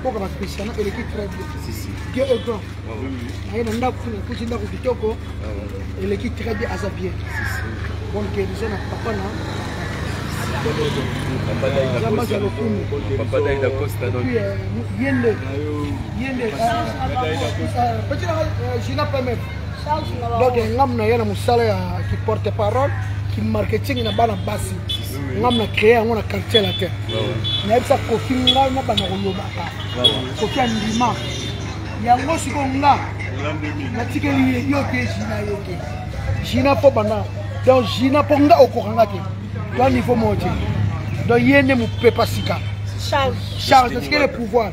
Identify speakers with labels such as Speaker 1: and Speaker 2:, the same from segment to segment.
Speaker 1: mboka ba christiana eleki très bien dieu est grand aye na ndako kuna ekuti ndako kitoko eleki très bien aza bien bonne guérison na papa na zambaza lokumu yende yende petit nanga gina pemete donc ngambo na ye na mosala ya kiporte parole kimarketing na bana basi ngambo na créer yango na quartier latin nayebisa kofi ngai na bana kolobaka kofi andima yango sikoyo nga natikeli ye yo te jina yo te jina mpo bana donc jina mpo nga okoka nga te to niveau moko te donc ye nde mopepa sika charge natikeli pouvoir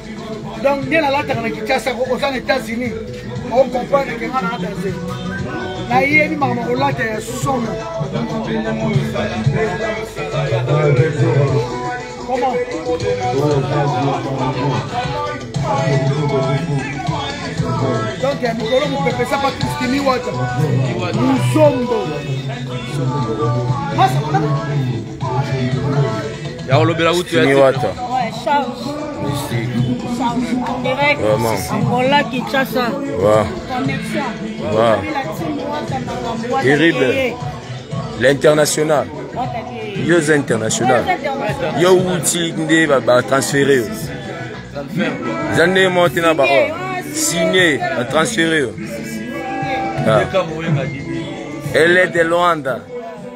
Speaker 1: donc nde nalataka na kinshasa ko oza na états-unis okomprendre ke nga na danse nayebi makambo kolata ya somo comment donc ya mikolo mopepesa patriski miwata muzombo
Speaker 2: ya kolobela utu ya niwata
Speaker 3: angola
Speaker 4: kinshasa terrible
Speaker 3: l'international yo oza international yo outi nde batransfere yo eza nde moko te na baor signe batransfere yo ah. elle est de luanda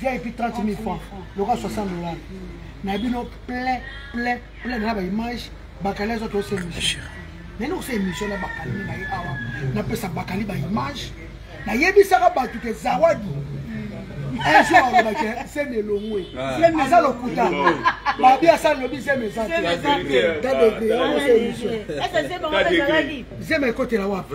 Speaker 1: vip 30 000 francs loka 60 dollars na bino plein plein plein na baimage bakali azo tosa émission nani osa émission na bakali na ye awa napesa bakali baimage nayebisaka bato ke zawadi un jour alobaki seme elongwe aza lokuta babi asali lobi zeme eza te zeme ekotela wapi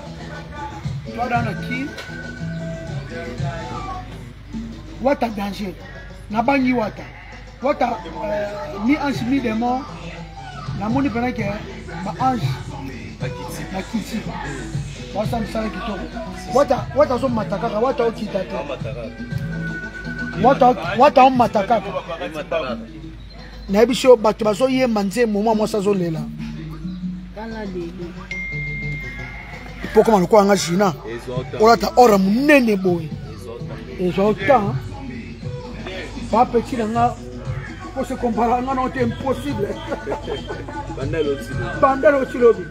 Speaker 1: Wada na ki Wata danger na bangi Wata Wata euh, mi ange mi démon namoni mpena ke ba ange na kiti basa mosala kitoko Wata Wata azomata kaka Wata okita te Wata omata kaka nayebi so bato bazoyemba nzembo mwa mwasi azolela pokoma lokola nga jina olata ora monene boye ezwa otan bapeti na nga pose komparanga na ote impossible banda lotilobi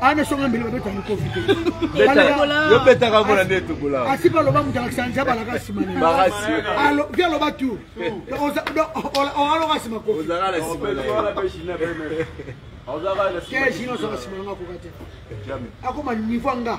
Speaker 1: ana songa mbele babeta mikofi teyo betaka
Speaker 2: mpona nde tokola asipa aloba moto alakisa
Speaker 1: nzambe alaka nsima navi
Speaker 2: aloba
Speaker 1: tu aloka nsima kofi keji nyonso basima nanga
Speaker 2: akoka
Speaker 1: te akoma niveau anga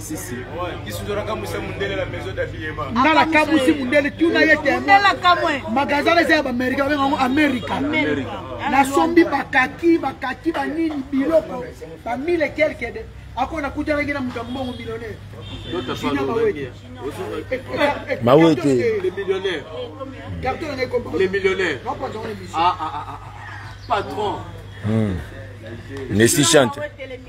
Speaker 2: sisi nga nakamwisi
Speaker 1: mundele tuna ye te
Speaker 4: magasin eza ya baamerika
Speaker 1: babenga yango amerika nasombi bakaki bakaki banini biloko bamile kelke de ako nakutanaki na moto ya mbongo millionnaire
Speaker 3: mawete
Speaker 2: patron
Speaker 3: nesi chante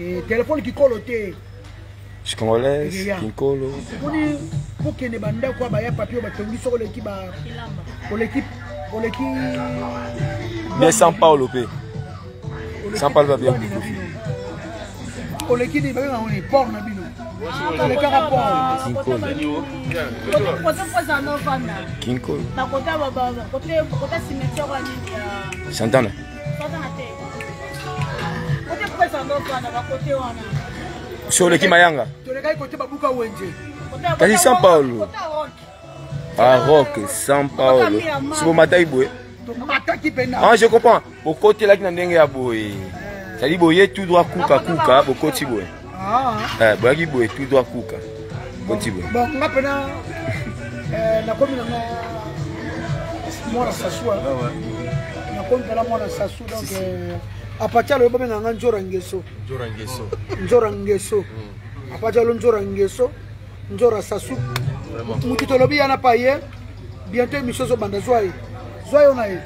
Speaker 3: Eh,
Speaker 1: telefone kikolo te
Speaker 3: congolaise kinkolo moni
Speaker 1: kokende bandako ya baya papier batongi soko oleki ba oleki oleki
Speaker 3: mais san paulo mpe san paulo babia bikofi
Speaker 1: oleki nini babengaka nini port na bino olekaka porkinkolo
Speaker 4: santana si oleki
Speaker 3: mayanga
Speaker 1: kasi san
Speaker 3: paulo arok ah, san paulo sibomataki boye ah, je comprends bokotelaki na ndenge ya boye sadi boye tout droit kuka kuka bokoti boye ah. eh, boyaki boye tout droit kuka koti boye bon nga mpena eh,
Speaker 1: nakomi nanga mwana sasua ah, nakomi mpena mwana sasu donc eh, apatia alobi babenga nga njora ngeso njora ngeso hmm. apatia alo njora ngeso Njora Sassou. Mutu tolobi yana pa ye. Bientôt émission zo banda zwa ye. Zwa yo na ye.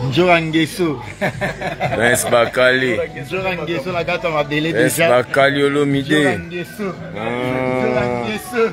Speaker 5: Njora Ngeso. Prince
Speaker 3: Bakali. Njora Ngeso la
Speaker 5: gata mabele déjà. Prince Bakali
Speaker 3: Olomide.
Speaker 5: Njora
Speaker 3: Ngeso. Ah.
Speaker 5: Njora Ngeso.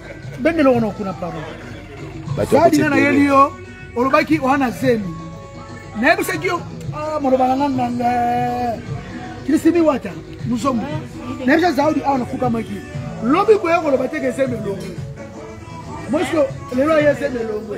Speaker 1: bende lokono kuna pardon sadi nga nayeli yo olobaki oa na zemi nayebisaki yo ah, maloba na nga nganga krisimi wata musomo nayebisa zaudi awa nafukamaki lobi koya koloba teke zemi elongo moso lelo aye zemi elongo